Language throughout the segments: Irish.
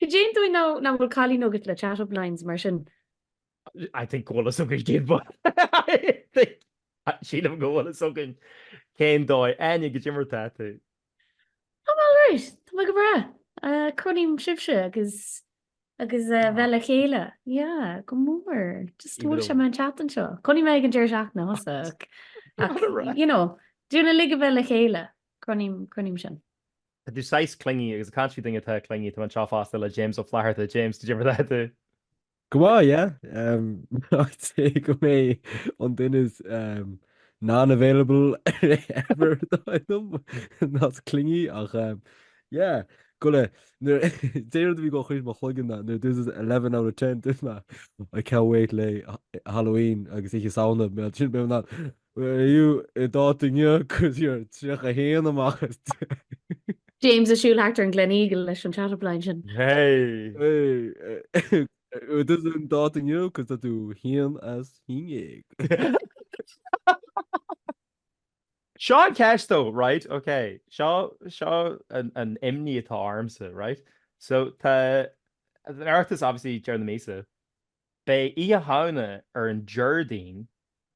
Cad é an dóigh nach bhfuil cailín agat le chat up lines mar sin? I think go bhfuil fhios againn cén fáth. I think. Sílim go bhfuil fhios againn cén dóigh. Áine, cad é mar atá tú? I'm alright. Tá mé go breá. Cronaím sibhse agus agus eh, bheith le chéile. Yeah, go mór. Just Even bhfuil sé though- maith an chat anseo. Cronaím é ag an deireadh seachtaine fosta. ach- ach, Alright. You know, dúinn uilig a bheith le chéile. Cronaím cronaím sin. Tá tú saghas clingy agus ag caint faoi daoine atá clingy tá mé anseo fosta le James Ó Flatharta, James cad é mar atá tú? Go maith, yeah. I'd say go mb'é an duine is non-available ever atá ionam not clingy ach yeah, go le, nuair d'aon rud a bhí go chuig mo chloigeann now, nuair this is eleven out of ten duit mé, I can't wait le Halloween agus Oíche Shamhna, bíonn sin, bíonn mé in ann, An tú an dáta inniu, cos you're 31 amach as 10. James ag siúl thart ar an Gleneagle leis an chat up line sin. Hey! An tú an dáta inniu, cos tá tú 1 as 11. Seo an cheist though, right, ok. Seo, seo an, an imní atá ormsa, right. So, tá, an Oireachtas obviously deireadh na míosa. Beidh Oíche Shamhna ar an Déardaoin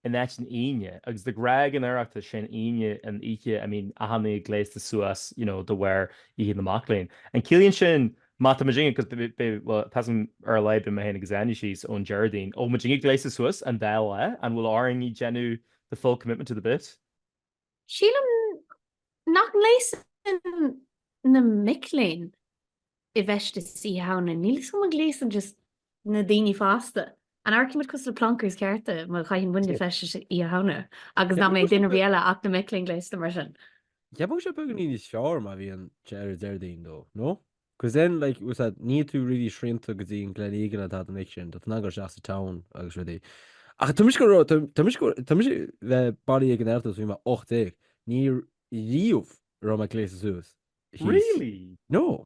in áit an Aoine agus de ghnáth ag an Oireachtas is é an Aoine an oíche I mean a tháinig gléasta suas you know de bharr Oíche na Mac Léinn. An ciallaíonn sin má tá muidinne ag cos beidh beidh bhuel tá's agam ar a laghad beidh mé féin agus Áine síos ón Déardaoin bhfuil muidinne gléasta suas an dá lá an bhfuil orainn ag déanamh the full commitment to the bit? Sílim nach ngléasann na mic léinn i bhfeisteas Oíche Shamhna, níl's agam an ngléasann just na daoine fásta. An amharcaidh muid cosúil le plonkers cearta má chaitheann muidne Yep. feisteas Oíche Shamhna agus nach mbeidh duine ar bith eile ach na mic léinn gléasta mar sin? Yeah bheadh sé beagáinín níos fearr má bhíonn sé ar an Déardaoin though, no? Cos then like was that níl tú really srianta go dtí an Glen Eagle an t-am anois sin, tá tú in ann dul isteach sa town agus rudaí. Ach tá mise, tá mise probably ag an Oireachtas ó bhí mé 18, ní riamh a raibh mé ag gléasadh suas. He's. Really? No.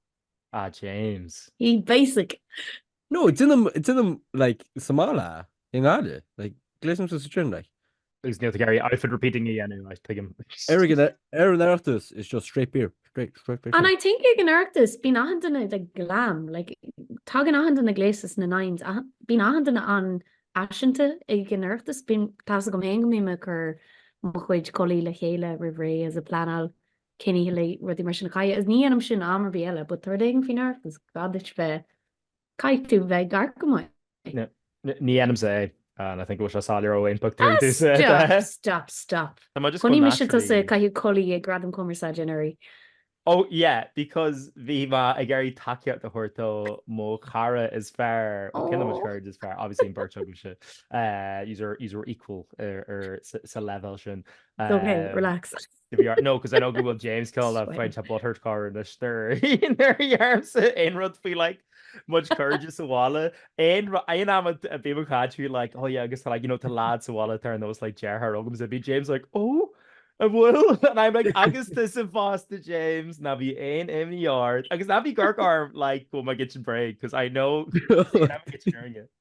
Ah James. He basic. No, déanaim, déanaim, like, sa mbaile, i nGaillimh, like, gléasaimse suas then, like. Agus níl tú ag iarraidh outfit repeating a dhéanamh, ach tuigim. Ar an, ar an Oireachtas, it's just straight beer, straight, straight, straight And beer. I think ag an Oireachtas, bíonn achan duine like glam, like tagann achan duine gléasta sna nines, achan, bíonn achan duine an-fhaiseanta ag an Oireachtas, bíonn, tá's agam féin go mbím ag cur mo chuid culaith le chéile roimh ré is ag pleanáil cén oíche le rudaí mar sin a chaitheamh, is ní dhéanaim sin am ar bith eile but tá rud éigin faoin Oireachtas, gá duit bheith. Caithfidh tú bheith ag amharc go maith. Ní dhéanaimse é. And I think go bhfuil sé soiléir ón pic. Stop, stop, stop. Am I just going naturally? Chonaic mise tusa ag caitheamh culaith ag Gradam Cumarsáide anuraidh. Oh yeah, because bhí mé ag iarraidh tacaíocht a thabhairt do mo chara is fearr, mo, ceann de mo chairde is fearr, obviously an bheirt agaibhse, yous are equal sa leibhéal sin. It's ok, relax. to be honest. No, because I know good old James Cole that find a butthurt car in this there. There he arms it in rud fee like much courage sa wala and I and I'm a be my cat who like oh yeah agus like you know to lads sa wala there and those like Ger her ogums it'd be James like oh a bhfuil and I'm like agus tu sa fásta James na bhí aon imní ard agus na bhí gar arm like go ma git break because I know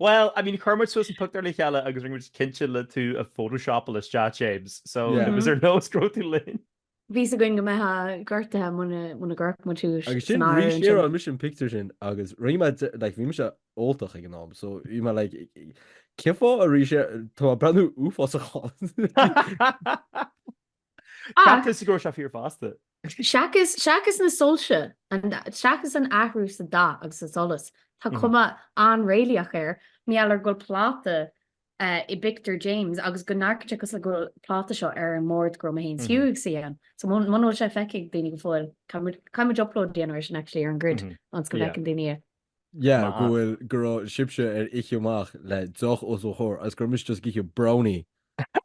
Bhuel, I mean, chuir muid suas an pictiúr le chéile agus rinne muid cinnte le tú a photoshopeáil isteach, James, so bhí sé ar nós go raibh tú linn. Bhí a fhios againn go mbeifeá gortaithe muna gcuirfeadh muid thú san áireamh ansin. Agus sin arís, shareáil mise an pictiúr sin agus rinne mé, like, bhí mise óltach ag an am, so bhí mé, like, Cén fáth arís, tá mé breathnú uafásach ann. Ach, cheap tusa go raibh sé fíor fosta. Seachas, seachas na soilse, an, seachas an athrú sa dath agus sa solas, tá cuma an-réalaíoch air, mar gheall ar go bhfuil pláta i bpictiúr James agus go ndearcann sé cosúil le go bhfuil pláta seo ar an mbord go raibh mé féin is Hugh ag suí ann. So muna bhfuil sé feicthe ag daoine go fóill, caithfimid upload a dhéanamh ar sin actually ar an grid ionas go bhfeiceann daoine é. Yeah, go bhfuil, go raibh sibhse ar oíche amach le deoch os mo chomhair agus go raibh mise just ag ithe brownie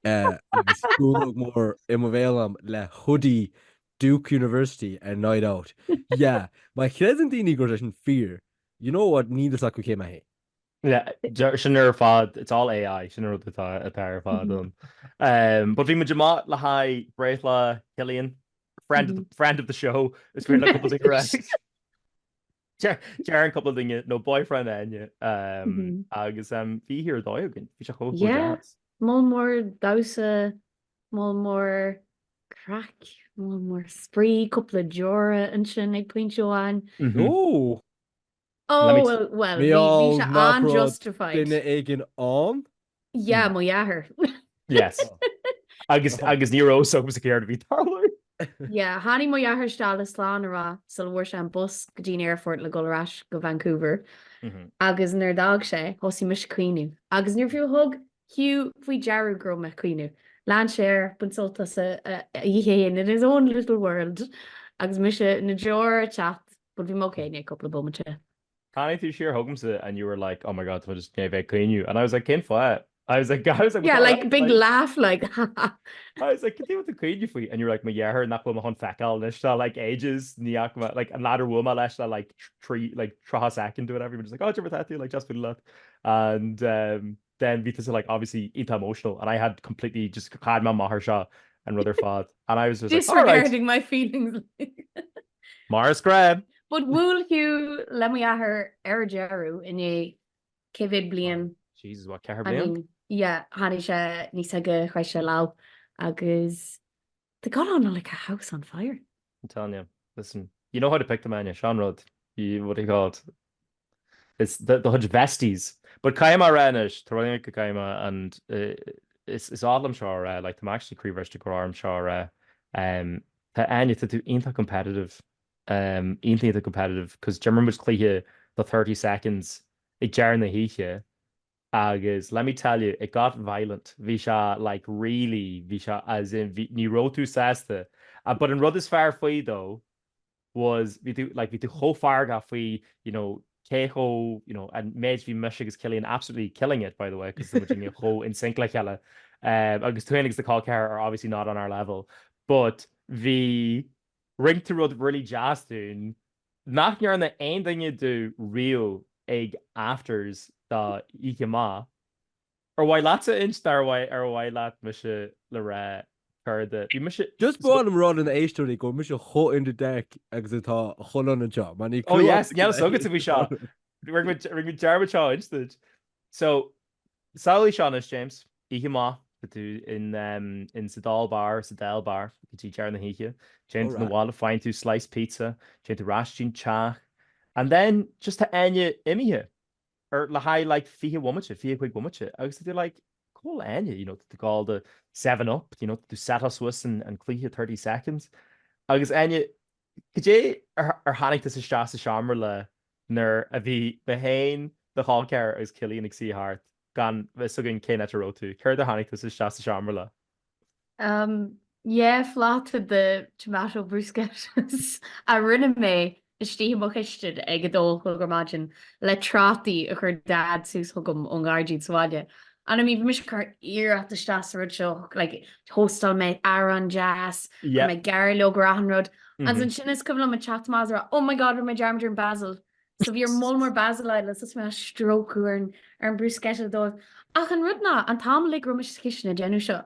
agus spúnóg mór i mo bhéal liom le hoodie Duke University ar night out. Yeah, má chreideann daoine go raibh sé sin fíor, you know what, níl a fhios acu cé mé féin. Yeah, sin ar fad, it's all AI, sin an rud atá ar fad ann. But bhí muid amach le haghaidh breithlá Cillian, friend of the show, is féidir le cúpla duine a rá. Deireann cúpla duine nó boyfriend Áine agus bhí oíche ar dóigh againn. Bhí sé chomh chomh deas. Moll mór damhsa, moll mór craic, moll mór spraoi, cúpla deora ansin ag pointe amháin. Ooh! Ooh, well, bhí sé an-justified. Mar gheall nach raibh duine éigin ann? Yeah, mo dheartháir. Yes. Agus, agus ní raibh a fhios agamsa céard a bhí ag tarlú. Yeah, tháinig mo dheartháir isteach le slán a rá sula bhfuair sé an bus go dtí an aerfort le dul ar ais go Vancouver. Agus nuair a d'fhág sé, thosaigh mise ag caoineadh. Agus níor fiú thug Hugh faoi deara go raibh mé ag caoineadh, lean sé air, baint sult as an oíche fhéin in his own little world. Agus mise na deora ag teacht, but bhí mé okay i ndiaidh cúpla bomaite. Tháinig tú siar chugamsa and you were like, oh my god, tá mé just i ndiaidh a bheith ag caoineadh and I was like, cén fáth? I was like, I was like, Yeah, like big laugh like, ha ha. I was like, cad é a bhfuil tú ag caoineadh faoi? And you were like, mo dheartháir nach bhfuil mé chun feiceáil anois do like ages ní fhaca mé, like an leaid ar bhuail mé leis le like trí, like tríocha soicind or whatever, you were just like, oh, cad é mar atá tú, like deas bualadh leat and um, then bhí tusa like obviously iontach emotional and I had completely just chaith mé m'athair seo an rud ar fad and I was just like alright. Disregarding my feelings like. Mar is gnách. But bhuail Hugh le m'athair ar deireadh i ndiaidh cé mhéad bliain? Jesus what ceithre bliain? I mean yeah tháinig sé aníos aige chroith sé lámh agus. They got on like a house on fire. I'm telling you. Listen, you know how to pick them Áine, sin an rud. You, what do you call it, it's the, the huge vesties. But caithfidh mé a rá anois, tá rud éigin go gcaithfidh mé and is is oth liom seo a rá, like tá mé actually croíbhriste go raibh orm seo a rá, um tá Áine, tá tú iontach competitive, um iontach iontach competitive, 'cause d'imir muid cluiche de 30 seconds ag deireadh na hoíche Agus let me tell you, it got violent, bhí sé like really, bhí sé as in bhí, ní raibh tú sásta. But an rud is fearr faoi though was bhí tú like bhí tú chomh feargach faoi you know cé chomh you know an méid bhí mise agus Cillian absolutely killing it by the way cos bhí muid chomh in sync le chéile um, agus tú agus do chol ceathar are obviously not on our level but bhí rinne tú rud really deas dúinn Nach ndearna aon duine dúinn riamh ag afters de oíche amach. Ar mhaith leatsa a insint ar mhaith ar mhaith leat mise le rá céard a bhí mise Just ba mhaith liom rá do na héisteoirí go bhfuil mise chomh in the dark agus atá chomh liom anseo mar níl clue agam ar cad a bhí ag tarlú. Rinne mé dearmad seo a inse duit. So. So samhlaigh Seán is James oíche amach tá tú in sa Dáil Bar sa Dáil Bar go dtí deire na hoíche. Téann tú na bhaile faigheann tú slice pizza, téann tú ar ais go dtí an teach and then just tá Áine imithe ar le haghaidh like fiche bhomaite, fiche cuig bomaite agus tá tú like cá bhfuil Áine you know tá tú ag ól do seven up you know tú set us suas an an cluiche thirty seconds agus Áine cad é ar ar tháinig tusa isteach sa seomra le nuair a bhí mé féin, do chol ceathar agus Cillian ag suí thart, gan fhios againn cén áit a raibh tú. Céard ar tháinig tusa isteach sa seomra le? Um yeah, pláta de tomato bruschettas a rinne mé istigh i mo chistin ag a dó a chlog ar maidin le trátaí a chuir Dad suas chugam ón ngairdín sa bhaile. And I mean, bhí mise ag cur iarracht isteach sa rud seo, like, thóstáil mé arán deas, chuir mé gairleog ar achan rud, Agus ansin is cuimhin liom ag teacht amach is ag rá Oh my God rinne mé dearmad ar an Basil. So bhí an moll mór Basil agam agus mé á stróiceadh ar an ar an bruschetta dóibh. Ach an rud ná an t-am uilig a raibh mise sa chistin ag déanamh seo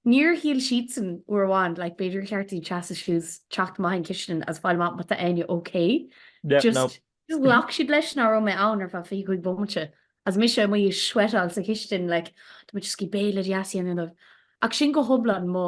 níor shíl siadsan uair amháin like b'fhéidir cheart dúinn seasamh suas teacht amach an chistin agus fáil amach má tá Áine ok. Just just ghlac siad leis ná raibh mé ann ar feadh 25 bomaite agus mise amuigh ag sweatáil sa chistin like tá muid ag scíth béile deas a dhéanamh dóibh. Ach sin go hiomlán mo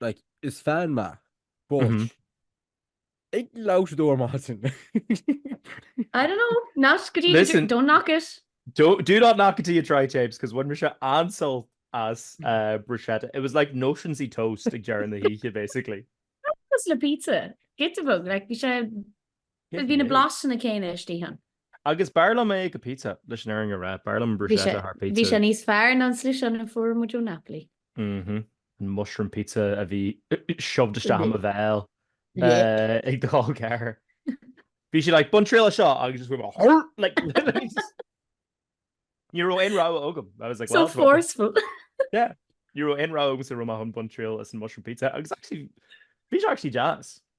like, is fan mé, but ag labhradóir maith sin. I don't know, ná scríobh, don't knock it. Do, do not knock it till you try it, James, cos bhain mise an-sult as bruschetta. It was like notions-y toast ag deireadh na hoíche, basically. Cosúil le pizza? Giota beag, like, bhí sé. Bhí na blasanna céanna istigh ann. Agus b'fhearr liom é go pizza, leis an fhírinne a rá. B'fhearr liom an bruschetta thar pizza. Bhí sé níos fearr ná an slice sin a fuair muid ó Napoli. Mh. An mushroom pizza a bhí shoved isteach i mo bhéal ag do chol ceathar. Bhí sí like, bain triail as seo agus just went hurr like Ní raibh aon rogha agam. I was like well. So forceful! Yeah. Ní raibh aon rogha agamsa an raibh mé chun baint triail as an mushroom pizza agus actually bhí sé actually deas.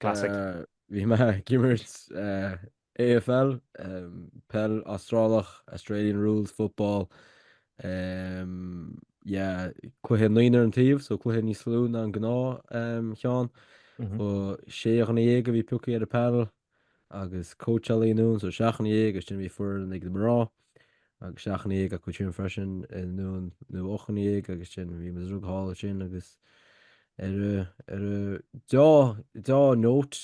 Classic. Bhí mé ag imirt AFL, peil Astrálach, Australian Rules Football, yeah, cluiche naonúr ar an taobh, so cluiche níos lú ná an gnáthcheann. Ba sé dhuine dhéag a bhí piocthaí ar an panel agus cóitseálaí ann, so seacht dhuine dhéag agus ansin bhí foireann ag na mná. agus seacht nduine dhéag acu sin freisin nó ocht nduine dhéag agus ansin bhí mise ag reáchtáil sin agus ar a ar a dea dea-note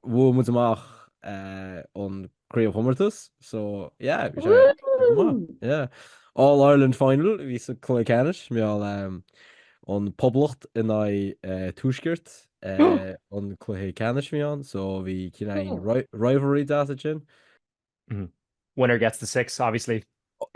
bhuaigh muid amach an craobhchomórtas so yeah bhí sé go maith Woohoo! yeah. All Ireland final a bhí sa cluiche ceannais mar gheall an Poblacht in aghaidh Tuaisceart an cluiche ceannais a bhí ann so bhí cineál Cool. rivalry deas ansin. Winner gets the six, obviously.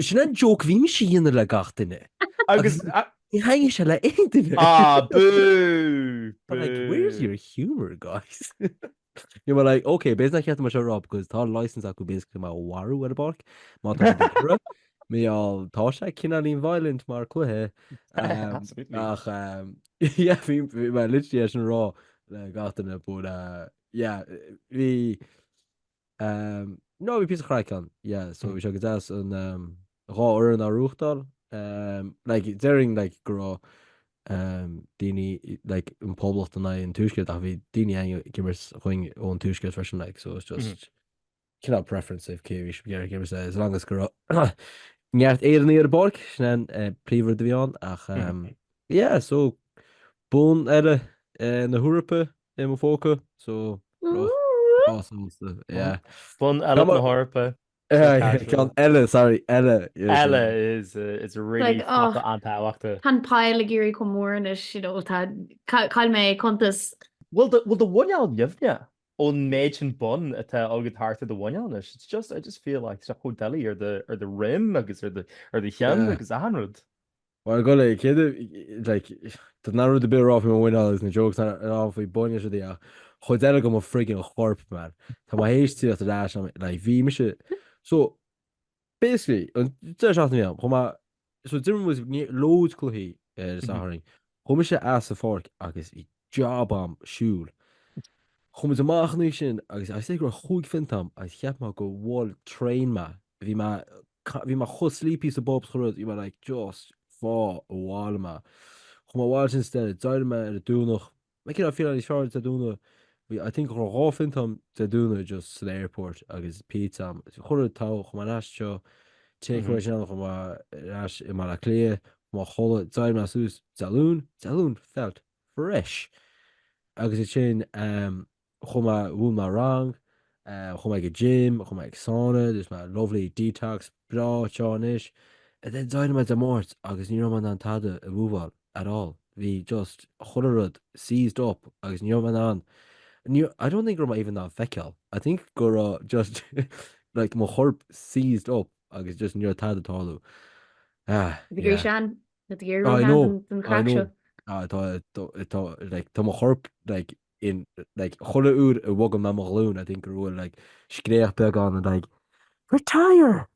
Sin an joke a bhí mise a dhéanamh le gach duine agus ní thaitnigh sé le aon duine. Ah, boo! Boo! Like, where's your humour, guys? They were like, ok, b'fhéidir nach ceart dom é seo a rá because tá license acu basically mé a mharú ar an bpáirc má tá siad ag iarraidh. Mar gheall tá sé cineáilín violent mar cluiche. Absolutely. Ach, yeah, bhí mé literally á rá le gach duine but, yeah, bhí, Ehm no bhí píosa craic ann yeah so bhí sé go deas an ehm dhá fhoireann á reáchtáil ehm like déarfainn like go raibh ehm daoine like an poblacht in aghaidh an Tuaiscirt ach bhí daoine ehm ag imirt dhúinn ón Tuaiscirt freisin like so it's just cineál preference é cé a bhí siad ag iarraidh imirt é as long as go raibh neart Éireannaigh ar an bpáirc sin é an eh, príomhrud a bhí ann ach ehm yeah so bonn eile eh, na hEorpa I mo phóca so breá sásta yeah. Bonn eile na hEorpa. Ceann eile sorry eile. Eile is is really focal an-tábhachtach. Tá an pile ag éirí chomh mór anois you know tá chaill mé cuntas. Bhfuil do bhfuil do mhuineál nimhneach ón méid sin bonn atá agad thart ar do mhuineál anois? It's just I just feel like so doiligh ar do ar do dhroim agus ar do ar do cheann agus achan rud. Mar go le chéad like tá na rud ar bith a rá faoi mo mhuineál agus na jokes a rá faoi boinn is rudaí ach chuid eile de mo friggin chorp man. Tá mé théis tíocht ar ais am like bhí mise so basically an deireadh seachtaine a bhí ann chuaigh mé so d'imir muid ní- loads cluichí ar Mhm. Satharn. Chuaigh mise as an pháirc agus bhí job a'm siúl. Chuaigh muid amach an oíche sin agus I'd say go raibh chúig phionta a'm agus cheap mé gur bhuail train mé. Bhí mé ca, bhí mé chomh sleepy sa bpub chuile rud, bhí mé like just faigh abhaile mé. Chuaigh mé abhaile instead, d'éirigh mé ar an Domhnach, like you know, I feel like fearr Dé Domhnaigh, bhí I think go raibh dhá phionta a'm Dé Domhnaigh just san airport agus pizza a'm, chuile rud togha, chuaigh mé ar ais anseo, take away ansin chuaigh mé ar ais i mBaile Átha Cliath, chuaigh mé a chodladh, d'éirigh mé suas, Dé Luain, Dé Luain felt fresh. Agus ansin, um, chuaigh mé mhúin mé rang, chuaigh mé ag an gym, chuaigh mé ag sauna, dúirt mé lovely detox breá seo anois and then d'éirigh mé Dé Máirt agus ní raibh mé in ann tada a mhoveáil at all, bhí just chuile rud seized up agus ní raibh mé in ann, ní, I don't think go raibh mé even in ann feiceáil, I think go raibh just like mo chorp seized up agus just ní raibh tada ag tarlú. Ah, Tá tú yeah. ag éirí sean, tá tú ag éirí sean don chraic seo. Ah, I know, ah, tá, tá, tá, like, tá mo chorp like, in like chuile uair a bhogaim mo ghlúin I think go bhfuil like scréach beag ann like retire!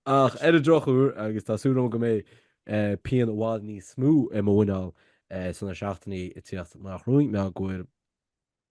Ach ar an drochuair agus tá súil agam go mbeidh eh, pian i bhfad níos mó i mo mhuineál eh, sna seachtainí ag tíocht nach roinn mé gur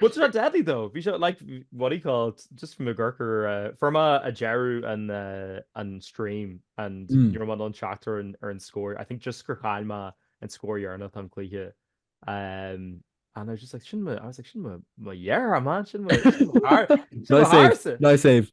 Wasn't that deadly though. Bhí sé like what do you call it just from the gurkur uh, fuair mé deireadh an uh, an stream and Mm. ní raibh mé in ann teacht ar an ar an scór. I think just gur chaill mé an scór dheireanach an cluiche. Um, and I was just like sin mo I was like sin mo mo dheartháir man sin mo sin mo char- sin mo Nice save. charasa. Nice save.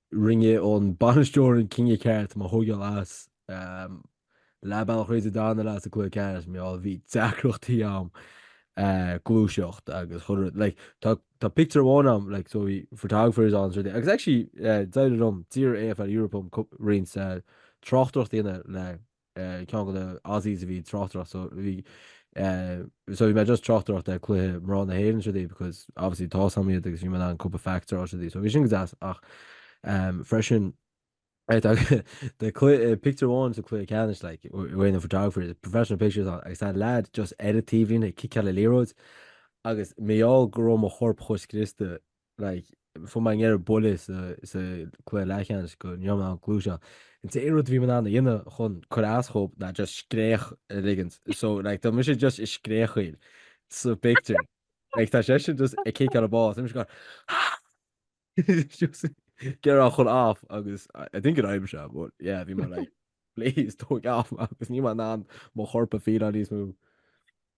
Rinne an bainisteoir an cinneadh ceart, mé a thógáil as leath bealach tríd an dara leath sa cluiche ceannais mar gheall, bhí deacrachtaí a'm gluaiseacht agus chuile rud, like, tá, tá pictiúr amháin ann, like, so bhí photographers ann is rudaí, agus actually, d'éirigh liom, d'iarr AFL Europe orm roinnt tráchtaireacht a dhéanamh le ceann de na Aussies a bhí ag tráchtaireacht so bhí so bhí mé just ag tráchtaireacht do cluiche mná na hÉireann is rudaí because obviously tá a fhios a'm iad agus bhí mé in ann cúpla facts a rá is rudaí so bhí sin go deas ach freisin the cluiche pictiúr amháin sa cluiche ceannais like we're in the photographer the professional pictures ann agus tá lad just ar an taobhlíne ag ciceáil liathróid agus mar gheall go raibh mo chorp chomh scriosta like, fuair mé an ghéire buille sa, sa cluiche leathcheannais go níor mná an clú seo. An t-aon rud a bhí mé in ann a dhéanamh chun cur as dóibh ná just scréach a ligint. So, like, tá mise just ag scréachaíl sa pictiúr. Like, tá seisean just ag ciceáil an ball. Tá mise going, ah! Just gearr á chur off agus I, I think it aimim seo, but yeah, bhí mé like, please, tóg off, agus níl mé in ann mo chorp a fíleáil níos mó.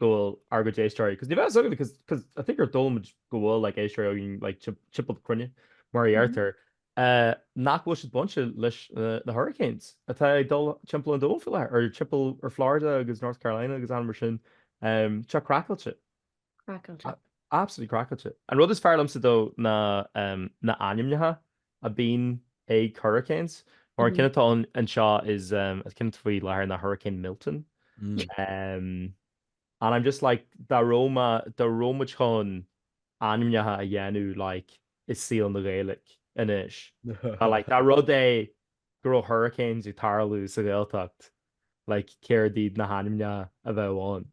go bhfuil ár gcuid éisteoirí, cos ní bheadh fhios againn cos cos I think gur dóigh liom go bhfuil like éisteoirí againn like tip timpeall na cruinne mar a deirtear eh nach bhfuil siad bainte leis na na hurricanes atá ag dul timpeall an domhain faoi láthair or timpeall ar Florida agus North Carolina agus ann mar sin tá sé craiceáilte. Craiceáilte. Absolutely craiceáilte. An rud is fearr liomsa though ná em na hainmneacha a bíonn ag hurricanes mar an ceann atá ann anseo is an ceann atá faoi láthair ná Hurricane Milton um and I'm just like dá raibh má dá raibh muid chun ainmneacha a dhéanamh like i saol na Gaeilge anois tá like dá rud é go raibh hurricanes ag tarlú sa Ghaeltacht like céard iad na hainmneacha a bheadh ann?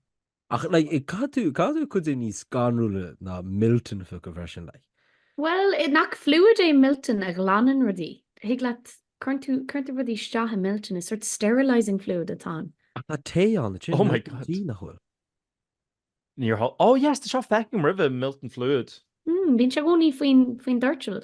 Ach, like, caithfidh tú, caithfidh tú rud éigin níos scanrúla ná Milton a phiocadh freisin, like. Bhuel, nach fluid é Milton a ghlanann rudaí. Thig leat, cuireann tú, cuireann tú rudaí isteach i Milton, is sort sterilising fluid atá ann. Ach tá tae ann, is é Oh my Milton God. Tea, nach bhfuil? Níor thó, oh yes, tá seo, feicthe agam roimhe, Milton Fluid. Mm, bíonn sé, i gcónaí, faoin, faoin doirteal.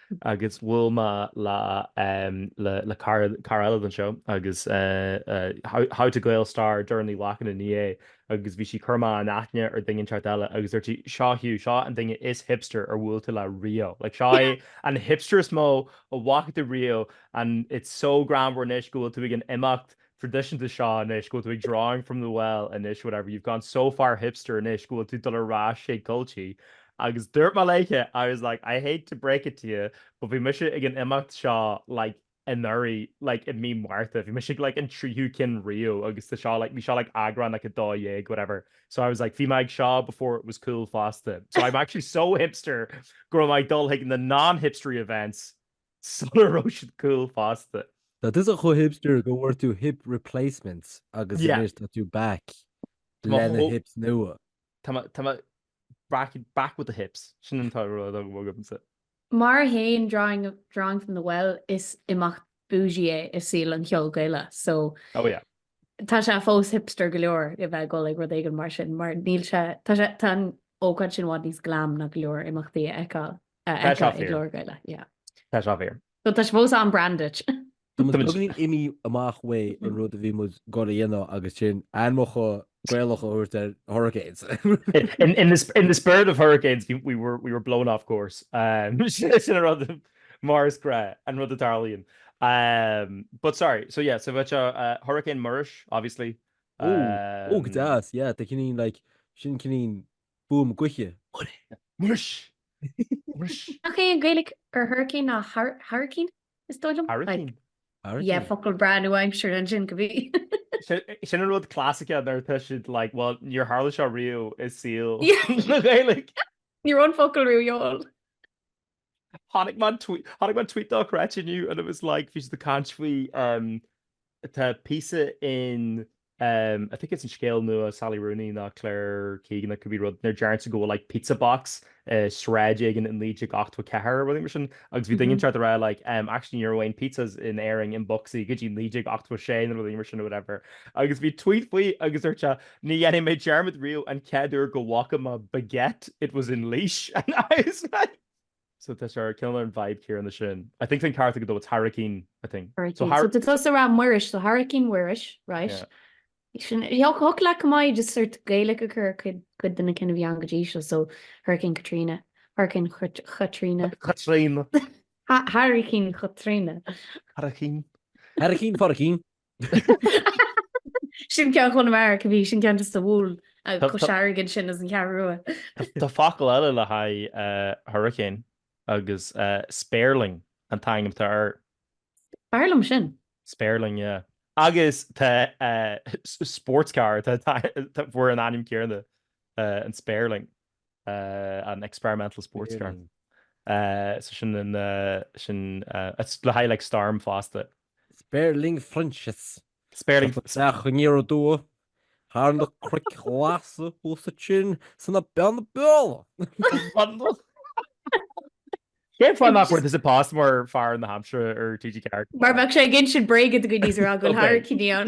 Agus bhuail mé le le cara eile den seó agus How to Gael Star Doireann Ní Ghlacáin i ndiaidh é agus bhí sí ag cur mé in aithne ar duine inteacht eile agus dúirt sí seo Hugh seo an duine is hipster ar bhuail tú le riamh like seo é an hipster is mó a bhfaca tú riamh and it's so greannmhar anois go bhfuil tú ag an imeacht traidisiúnta seo anois, go bhfuil tú ag drawing from the well anois whatever, you've gone so far hipster anois go bhfuil tú ag dul ar ais ag culchie agus dúirt mé léithe I was like I hate to break it to you but bhí mise ag an imeacht seo like anuraidh like i mí Mhárta, bhí mise ag like an tríú ceann riamh agus tá seo like bhí seo like eagrán like 12 whatever so I was like bhí mé ag seo before it was cool fosta so I'm actually so hipster go raibh mé ag dul chuig na non-hipstery events sula raibh siad cool fosta. Tá tusa chomh hipster go bhfuair tú hip replacements agus Yeah. anois tá tú back Tá mé lena chomh- hips nua. Tá mé, tá mé back, back with the hips. Sin an tá rud agam agamsa. Mar a théann drawing, drawing from the well is imeacht bougie é i saol an cheoil Gaelach so Oh yeah. tá sé fós hipster go leor a bheith ag dul ag rud éigin mar sin mar níl sé, tá sé, tá an ócáid sin i bhfad níos glam ná go leor imeachtaí a fheiceáil. a fheiceáil i gclár Gaeilge. Yeah. Tá sé fíor. Well tá sé fós on brand dúinn. Tá muid beagáinín imithe amach uaidh an rud a bhí muid ag goil a dhéanamh agus sin ainmeacha Gaelacha a thabhairt ar hurricanes. In the spirit of hurricanes we were blown off course. Sin an rud mar is gnáth, an rud a tarlaíonn. But sorry, so yeah, sa bhfad seo Hurricane Muiris obviously. Ó, go deas, yeah, tá cineál like, sin cineál fuaim gaoithe. Muiris! Muiris! Nach é an Gaeilge ar hurricane ná hairicín, is dóigh liom? Hairicín? Yeah, focal breá nua-aimseartha ansin, go bhfios. Sin an rud classice a ndeir tú, like, well, níor tharla sé riamh i saol na Gaeilge. Ní raibh an focal riamh ar fáil. Chonaic mé an tweet chonaic mé an tweet dochreidte inniu and it was like bhí siad ag caint faoi um tá píosa in um I think it's in scéal nua Sally Rooney nó Claire Keegan it could be rud nuair a deireann siad go bhfuil like pizza box i sráid éigin i 1984 nó rud mar sin agus bhí duine éigin ag triail a rá like um actually ní raibh aon pizzas in Éirinn i mboscaí go dtí 1986 nó rud mar sin nó whatever agus bhí tweet faoi agus dúirt sé Ní dhéanfaidh mé dearmad riamh an chéad uair go bhfaca mé baguette, it was in Laois, and I was like. So tá sé ar cineál ar an vibe céanna sin. I think an ceart agat though, it's Hairicín, I think. So Hairicín. So Har. tusa a roghnaigh Muiris, so Hairicín Mhuiris, right. Yeah. Sin, yeah, thiocfadh liom just sórt Gaeilge a chur ar cuid de na cinn atá ann go dtí seo, so Hurricane Katrina, Hurricane Katrina. Katrina. Hurricane Katrina. Hurricane. Hurricane Hurricane. Sin ceann Chonamara, could be, sin ceann just a bhuail Cois Fharraige ansin is an Cheathrú Rua. Tá focal eile le haghaidh hurricane agus spéirling an t-ainm atá air. Is fearr liom sin. Spéirling, yeah. Agus tá sports car, a fuair an ainm céanna, an spéirling. an experimental sports car. Sin le haghaidh like storm fosta. Spéirling Francis. Spéirling. ag teacht aniar aduaidh thar na cnoic ghlasa thuas ansin sna Beanna Beola. Cén fáth nach bhfuair tusa post mar fear na haimsire ar TG4? Mar bheadh sé ag insint bréaga do dhaoine is a rá go bhfuil hairicíní ann.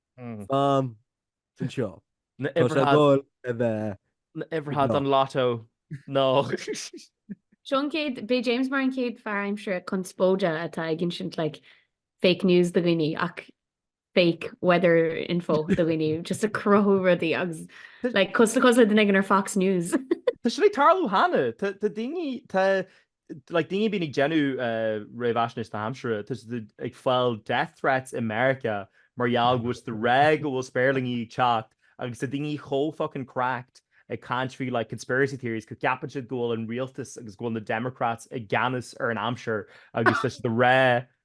Fan sin seo. Na Tá sé uimhreacha. dul a bheith na uimhreacha ag an ná. lotto nó. Seo an chéad, beidh James mar an chéad fear aimsire conspóideach atá ag insint like fake news do dhaoine ach fake weather info do dhaoine just ag cruthú rudaí agus like cosúil le cosúil le duine ag an ar Fox News. Tá siad ag tarlú cheana. Tá daoine, tá like daoine a bhíonn ag déanamh réamhaisnéis na haimsire, tá siad ag fáil death threats i Meiriceá mar gheall go bhfuil siad ag rá go bhfuil spéirlingí ag teacht agus tá daoine chomh fucking cracked ag caint faoi like conspiracy theories go gceapann siad go bhfuil an rialtas agus go bhfuil na democrats i gceannas ar an aimsir agus tá siad ag rá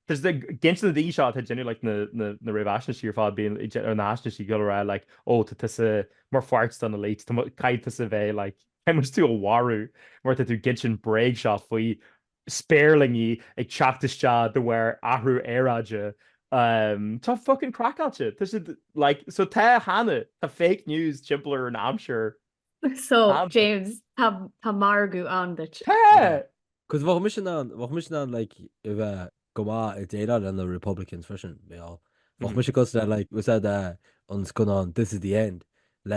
tá siad ag gabháil in aghaidh na daoine seo atá ag déanamh like na na réamhaisnéisí ar fad a bhíonn ag déanamh na haisnéisí ag rá like oh tá tusa mar pháirt den elite tá ceart tusa a bheith like Déanfaidh tú a mharú mar tá tú ag inseacht bréag seo faoi spéirlingí ag teacht isteach de bharr athrú aeráide. Tá fuckin craiceáilte. Tá siad like so tá cheana, tá fake news timpeall ar an aimsir. So James tá tá margadh ann duit. Tá! Cos bheadh mise in ann, bheadh mise in ann like a bheith go maith ag déileáil le na Republicans freisin bheadh. Bheadh mise cosúil le like, úsáid an scannán This is the End le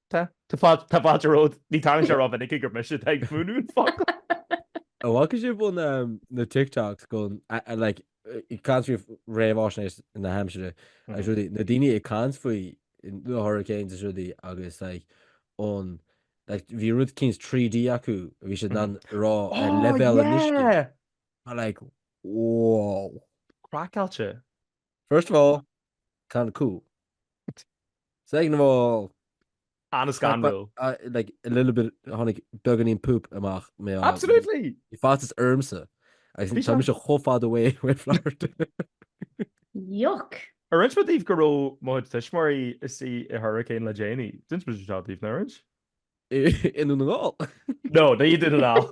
Tá. Tá fáilte, tá fáilte romhat. Ní tharlaíonn sé rómhinic gur mise atá ag múineadh an focal. Ó bhfaca sibh an ehm na TikToks go like ag caint faoi réamhaisnéis na haimsire agus rudaí, na daoine ag caint faoi na hurricanes is rudaí agus like an like bhí rud cinn 3D acu a bhí siad in ann a rá leibhéal an uisce. Tá like wow. Craiceáilte. First of all, kind of cool. Second of all, an-scanrúil. like a little bit tháinig beagáinín poop amach mé Absolutely! Bhí faitíos ormsa agus tá mise chomh fada uaidh i rith Flairt. Yuck! Ar roinn mé daoibh go raibh mo chuid tuismitheoirí istigh i hurricane le déanaí? D'inis mise seo daoibh, nár roinn? I nDún na nGall. No, ní i nDún na nGall.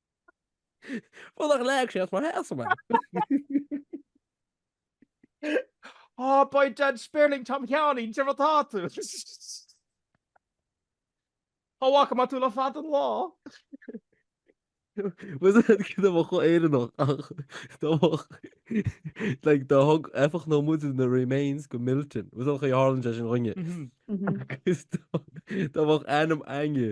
Bhfuil nach leag sé as mar shéasamh mé? Á beidh an spéirling Tom Sheáinín de rud atá tú. Ní fhaca mé tú le fada an lá. Was it cad é mo chomh Éireannach ach dá mbeadh like dá dtug eifeacht nó muid in the remains de Milton was it an chaoi a tharlaíonn sé sin dhúinne agus dá mbeadh ainm againne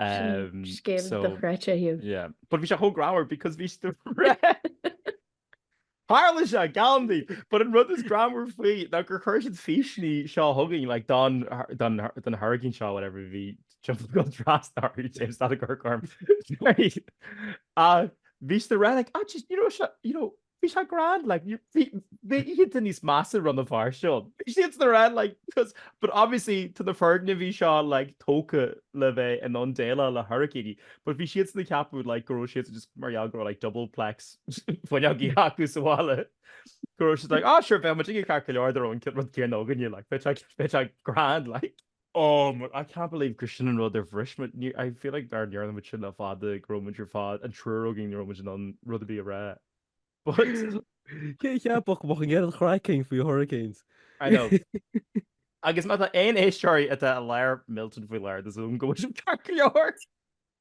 Scéal dochreidte thú. Yeah. But bhí sé chomh greannmhar because bhí siad ag Tharla sé go hálainn, but an rud is greannmhaire faoi ná gur chuir siad físeáin seo chugainn like don don hurricane seo whatever bhí timpeall go trasna orthu James Gallagher orm. Ach bhí siad ag rá like ah jeez you know seo you know Bhí sé grand like you bhí bhí oícheanta níos measa Rann na Feirste. Bhí siad sin ag rá like cos but obviously tá na foirgnimh seo like tógtha le bheith in ann déileáil le hairicíní but bhí siad sin ag ceapadh like go raibh siad just mar gheall go raibh like double plex fuinneogaí acu sa bhaile go raibh siad like ah sure bheadh muid ceart go leor dá raibh an rud céanna againne like bheadh sé bheadh sé grand like. Oh my I can't believe gur sin an rud a bhris muid. Ní I feel like nach ndearna muid sin le fada go raibh muid ar fad an triúr againn ní raibh muid in ann rud ar bith a rá. But Cé a cheapfadh go mbeadh an méid sin craic againn faoi Hurricanes? I know. Agus má tá aon éisteoirí atá i lár Milton faoi láthair tá súil agam go bhfuil sibh ceart go leor.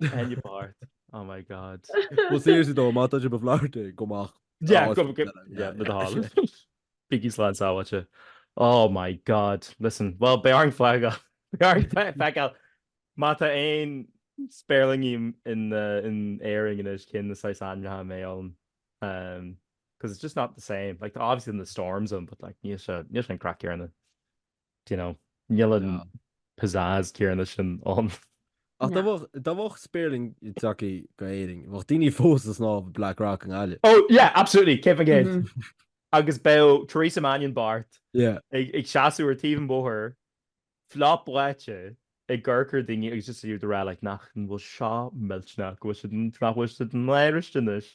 Penny Bart. Oh my god. Well seriously though, má tá sibh i bhFlorida, gabh amach Yeah, go go yeah, na dála. Bígí slán sábháilte. Oh my god. Listen, well beidh orainn fágáil, beidh orainn feiceáil. Má tá aon spéirlingí in in Éirinn anois cén saghas ainmneacha a mbeidh ann umm cos it's just not the same. Like tá obviously na storms ann but like níl sé níl sé an craic céarna. Do you know, níl an pizzazz céarna sin ann. Ach dá bheadh, dá bheadh spéirling tagthaí go Éirinn, bheadh daoine fós ag snámh Black Rock i nGaillimh. Oh yeah, absolutely, céad faoin gcéad. Agus bheadh Teresa Mannion Bart Yeah. ag, ag seasamh ar taobh an bhóthair, fliuch báite, ag amharc ar daoine agus just í ag rá like nach, an bhfuil seo millteanach, go bhfuil siad, nach bhfuil siad in Irish anois.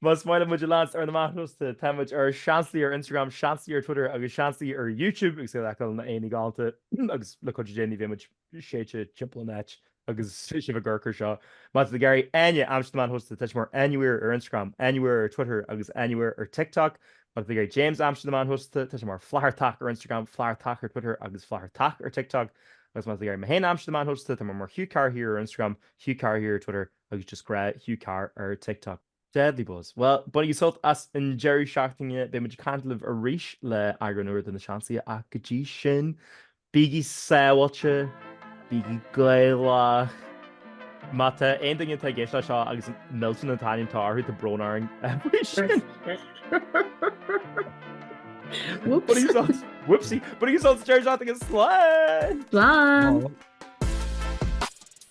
Más maith libh muid a leanstan ar na meáin shóisialta, tá muid ar Seansálaithe ar Instagram, Seansálaithe ar Twitter agus Seansálaithe ar YouTube agus Gaeil Acadúil na Aonaigh Ghalánta agus le cuidiú Dé ní bheidh muid séidte timpeall an áit agus sibh ag amharc ar seo. Má tá sibh ag iarraidh Áine a leanstan ar na meáin shóisialta, tá sí mar Áineware ar Instagram, Áineware ar Twitter agus Áineware ar TikTok. Má tá sibh ag iarraidh James a leanstan ar na meáin shóisialta, tá sé mar Flathartach ar Instagram, Flathartach ar Twitter agus Flathartach ar TikTok. Agus má tá sibh ag iarraidh mé féin a leanstan ar na meáin shóisialta, tá mé mar Hugh Carr Here ar Instagram, Hugh Carr Here ar Twitter Agus just gnáth Hugh Carr ar TikTok. Deadly buzz. Bhuel, bainigí sult as an deireadh seachtaine, beidh muid ag caint libh arís le eagrán úr de Na Seansálaithe ach go dtí sin, bígí sábháilte, bígí Gaelach, má tá aon duine atá ag éisteacht le seo agus Milton an t-ainm atá orthu tá brón orainn faoi sin! Whoopsie! Whoopsie! Bainigí sult as an deireadh seachtaine, slán! Slán!